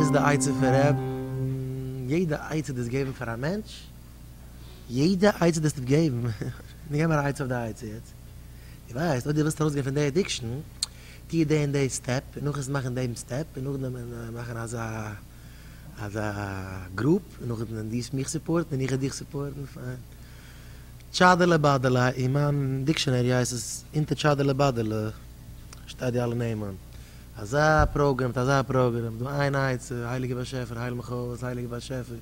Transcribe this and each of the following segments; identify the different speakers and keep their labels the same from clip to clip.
Speaker 1: איז די עצה פון רעב יעדע עצה דאס געבן פאר א מענטש? יעדע עצה דאס נישט געבן, נו געב מיר א עצה אויף די עצה יעצט, דו ווייסט אויב דו ווילסט ארויסגיין פון די עדיקשן טוה די און די סטעפ און נאכעס מאכן דעם סטעפ און נאכדעם מאכן אזא אזא גרופ און נאכדעם דו מיך סופארטן און איך וועל דיך סופארטן פיין טשאדעלע באדעלע אין מיין דיקשענערי הייסט עס אונטער טשאדעלע באדעלע שטייט די אלע נעמען. אזא פראגרעם מיט אזא פראגרעם, דו איין עצה, הייליגער באשעפער הייל מיך אויס, הייליגער באשעפער,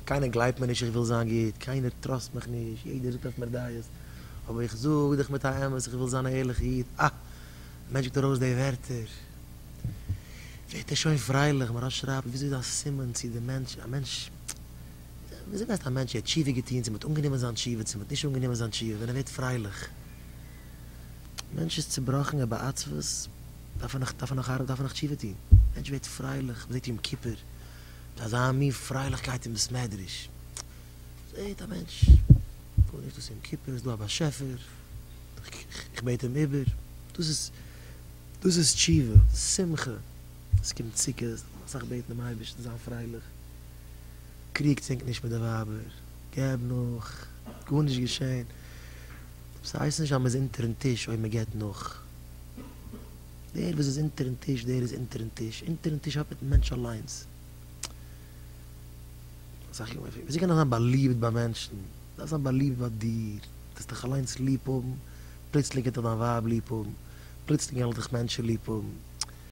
Speaker 1: קיינער גלייבט מיר נישט איך וויל זיין גוט, קיינער טראסט מיך נישט, יעדער זאגט אויף מיר דעות, אבער איך זאג דיך מיט א אמת איך וויל זיין א ערליכע איד, אה! ווען מענטש זאגט ארויס די ווערטער ווערט ער שוין פרייליך, מרן שרייבט וויאזוי איז א סימן צו די מענטש, א מענטש, וויאזוי ווייסט א מענטש צו ער האט תשובה געטון, צו מען האט אנגענומען זיין תשובה, צו מען האט נישט אנגענומען זיין תשובה, ווען ער ווערט פרייליך, מענטש איז צובראכן ער בעצבות. דארף ער נאך דארף ער נאך ארבעט דארף ער נאך תשובה טוהן, מענטש ווערט פרייליך, מ'זעהט יום כיפור מיט אזא מין פרייליכקייט אין בית מדרש, זעהט א מענטש גארנישט דאס איז יום כיפור ס'דא א באשעפער איך בעט אים איבער, דאס איז דאס איז תשובה, שמחה, עס קומט סוכות דארף מען אסאך בעטן דעם אייבערשטן זיין פרייליך, קריגטס ענק נישט מיט די ווייבער, געב נאך, גארנישט געשען, דאס הייסט נישט אז מ'איז אונטערן טיש אויב מ'געבט נאך. דער וואס איז אונטערן טיש דער איז אונטערן טיש, אונטערן טיש האט מיטן מענטש אליינס. אסאך יארן בעפאר, וויאזוי קען איך זיין באליבט ביי מענטשן? דארף זיין באליבט ביי דיר, דארפסט דיך אליינס ליב האבן, פלוצלינג גייט דיך דיין ווייב ליב האבן, פלוצלינג גייען דיך מענטשן ליב האבן.